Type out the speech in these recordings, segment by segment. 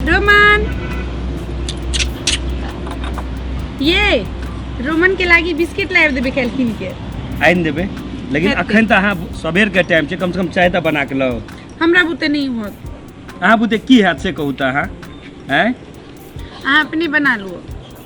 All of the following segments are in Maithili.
रोमन ये रोमन के लागी बिस्किट लाइव देबे खाइल किन के आनि देबै लेकिन हेतै। अखन तऽ अहाँ सबेरके टाइम छै कमसँ कम चाय तऽ बना कऽ लाउ हमरा बुते नहीं होत अहाँ बुते की हैत से कहू तऽ अहाँ आँय अहाँ अपने बना लुओ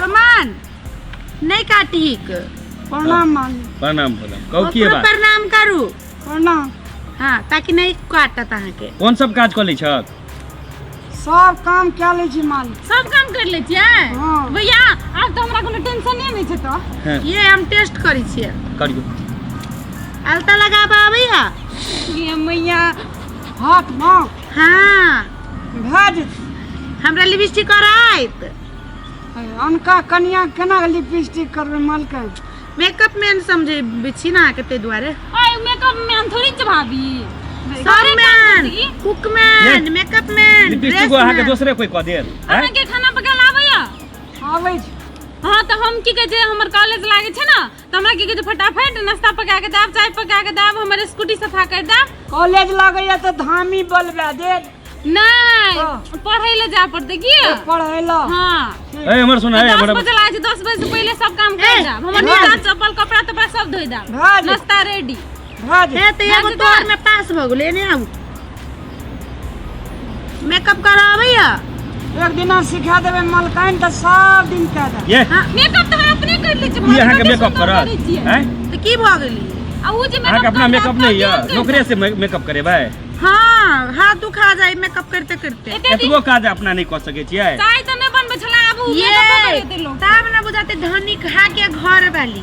रोमान नहीं काटिक प्रणाम मान प्रणाम प्रणाम कहू की ओकरो बात प्रणाम करू प्रणाम हाँ ताकि नहीं काटत अहाँ के कोन सब काज कऽ लै छक सब काम कए लै छी मालिक सब काम कर ले छियै हाँ। भैया आब तो हमरा कोनो टेंशन नहीं छै तो हैं, ये हम टेस्ट करी छियै करियो अलता लगाबऽ आबैया ये मैया हाथ माँ हाँ भज हमरा लिपस्टिक कराइत अनका कनिया केना लिपस्टिक करबै मलकै मेकअप मैन समझे छी ना के ते दुआरे ओए मेकअप मैन थोड़ी छ भाभी सब man cook man makeup man lipstick को अहाँ के दोसरे कोई क देल अहाँ के खाना पकाल आबैया आबै छी हाँ तऽ हम की कहै छै हमर कॉलेज लागै छै ने तऽ हमरा की कहै छै फटाफट नाश्ता पका के दाब चाय पका के दाब हमर स्कूटी सफा कर दाब कॉलेज लगैया तऽ धामी बलबा दे नहीं हाँ। पढ़े ले जा पड़ते की पढ़े ला हाँ ए हमर सुन है दस हमर बजे लाए दस बजे से पहले सब काम कर दाब हमर हाँ। निकाल चप्पल कपड़ा तपड़ा सब धोई दाब हाँ जी। नाश्ता रेडी भऽ जेतै हे तऽ एगो तोहर में पास भऽ गेलै एने आबू मेकअप करऽ अबैया एक दिना सिखा देबै मलकाइन तऽ सब दिन कए देबै ये हाँ, मेकअप तऽ हम अपने कर लै छी ई अहाँके मेकअप करत हैं तऽ की भऽ गेलै आ उ जे अहाँके अपना मेकअप नहि यऽ नौकरे से मे- मेकअप करेबै हाँ हाथ दुखा जाए मेकअप करते करते एतबो काज अपना नहि कऽ सकै छियै चाय तऽ नहि बनबै छला आबू ये तब ने बुझाते धनिक हा के घर वाली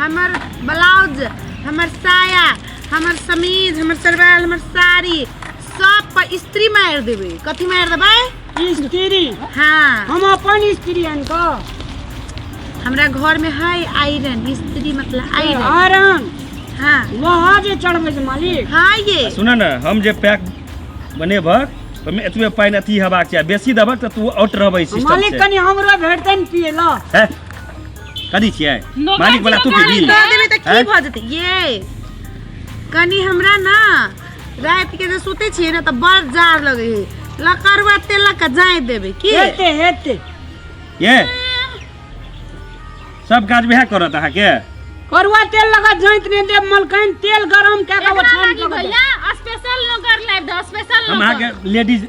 हमर ब्लाउज हमर साया हमर समीज हमर सरवाल हमर साड़ी सब पर स्त्री मार देबे कथी मार देबे स्त्री हाँ हम अपन स्त्री अनका हमरा घर में है आयरन स्त्री मतलब आयरन आयरन हाँ लोहा जे चढ़बे छै मालिक हाँ ये सुन ने हम जे पैक बनेबक ओहिमे एतबे पानि अथी हेबाक चाही बेसी देबक तऽ तू आउट रहबै सिस्टम मालिक से कनि हमरो भेटतै ने पिए ला है कदी छियै लोग मालिक वाला तू पीबी दे देबे त की हैं? भ जेते ये कनी हमरा ना रात के जे सुते छिए ना त बड़ जार लगे है लकड़वा तेल का जाए देबे की हेते हेते ये सब काज वएह करत अहाँ के करुआ तेल लगा जैत ने दे मलकैन तेल गरम के के एकरा छान लागी के भैया स्पेशल नोकर लाइव दो स्पेशल हम अहाँ के लेडीज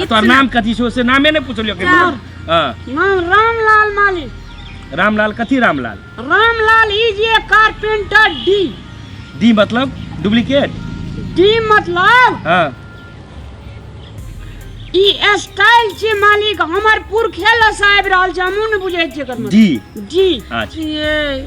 आ तोहर नाम कथी छौ से नामे नहि पुछलियो के राम। हँ नाम रामलाल माली रामलाल कथी Ramlal Ramlal is a carpenter D D मतलब डुप्लीकेट डी मतलब हँ ई स्टाइल छै मालिक हमर पुरखे लस आबि रहल छै हमहूँ ने बुझै छियै एकर मतलब डी डी अच्छा। छियै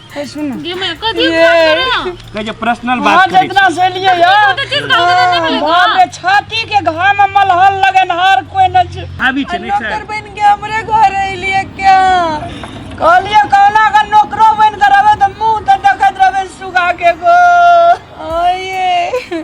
ए सुन ना। गे मैं कथी ये। बात करो ना कहे जे पर्सनल बात बात करे इतना से लिए यार तो चीज गाँव में नहीं मिलेगा बाप रे छाती के घाम में मलहल लगन हर कोई न छ- आबी छै नहीं नौकर सर बन के हमरे घर अइलिए क्या कहलिए कहना का नौकरो बन के रहबे तो मुंह तो देखत रहबे सुगा के गो आइए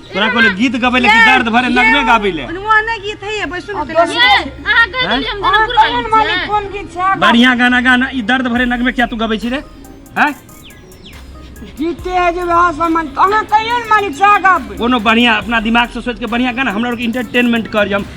तोरा कोने गीत गबै ले कि दर्द भरे नगमे गाबै ले ओनवा नै गीत है बस सुन के ले अहाँ कहि देलियै हम अहाँ जनकपुर कहियौ ने वाली मालिक छियै। कोन गीत छै आगाँ। बढ़िया गाना गाना ई दर्द भरे नगमे क्या तू गबै छी रे हैं गीते है जे वहाँ सामान अहाँ कहियौ ने मालिक साहब कोनो बढ़िया अपना दिमाग से सोच के बढ़िया गाना हमरा लोग इंटरटेनमेंट कर हम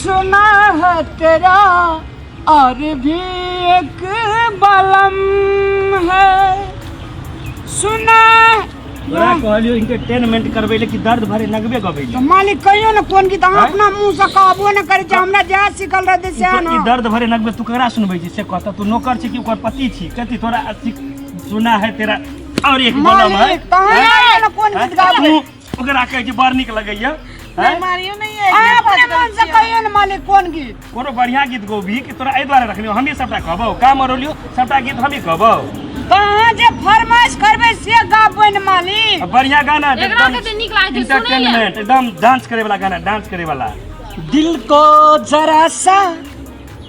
सुना है तेरा और भी एक बलम है सुना तोरा कहलियो इंटरटेनमेंट करबे ले कि दर्द भरे नगबे गबे तो मालिक कहियो ना कोन गीत हम आँय? अपना मुंह से कहबो ना करे जे हमरा जा सिखल रहते से ई ना दर्द भरे नगबे तू ककरा सुनबै छी से कहता तू नौकर छी कि ओकर पति छी कथी तोरा अथी सुना है तेरा और एक बलम है मालिक तहन ना कोन गीत गाबो तू ओकरा कहै छै बड़ नीक लगैया हैं? मारियो नहीं है अहाँ अपने मन से कहियो ने मालिक कोन गीत कोनो बढ़िया गीत गोभी कि तोरा एहि दुआरे रखलियो हमही सबटा कहबौ का मरोलियो सबटा गीत हमही कहबौ तो अहाँ जे फरमाइश करबै से गाबबै ने मालिक आ बढ़िया गाना जे एकरा एकदम कते नीक लागै छै, सुनै लए। entertainment, एकदम डांस करे वाला गाना डांस करे वाला दिल को जरा सा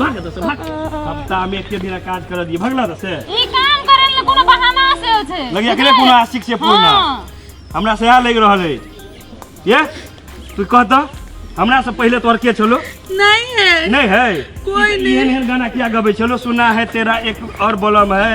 भाग दस भाग हफ्ता में एक दिन काज कर दिए भगला दस ई काम करे ले कोनो बहाना से हो छै लगे एकरे कोनो आशिक से पूर्ण हाँ। हमरा से आ लग रहल है ये तू कह तो हमरा से पहले तोहर के छलो नहीं है नहीं है कोई नहीं एहन एहन गाना किया गबै छलो सुना है तेरा एक और बलम है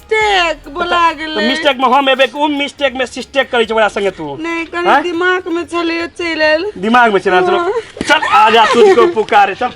मिस्टेक बोला तऽ गेलै मिस्टेक में हम एबे उ मिस्टेक में सिस्टेक करे छै ओकरा संगे तू नहीं कनी आँय? दिमाग में चले चल आयल दिमाग में चला चलो चल आ जा तुझको पुकारे चल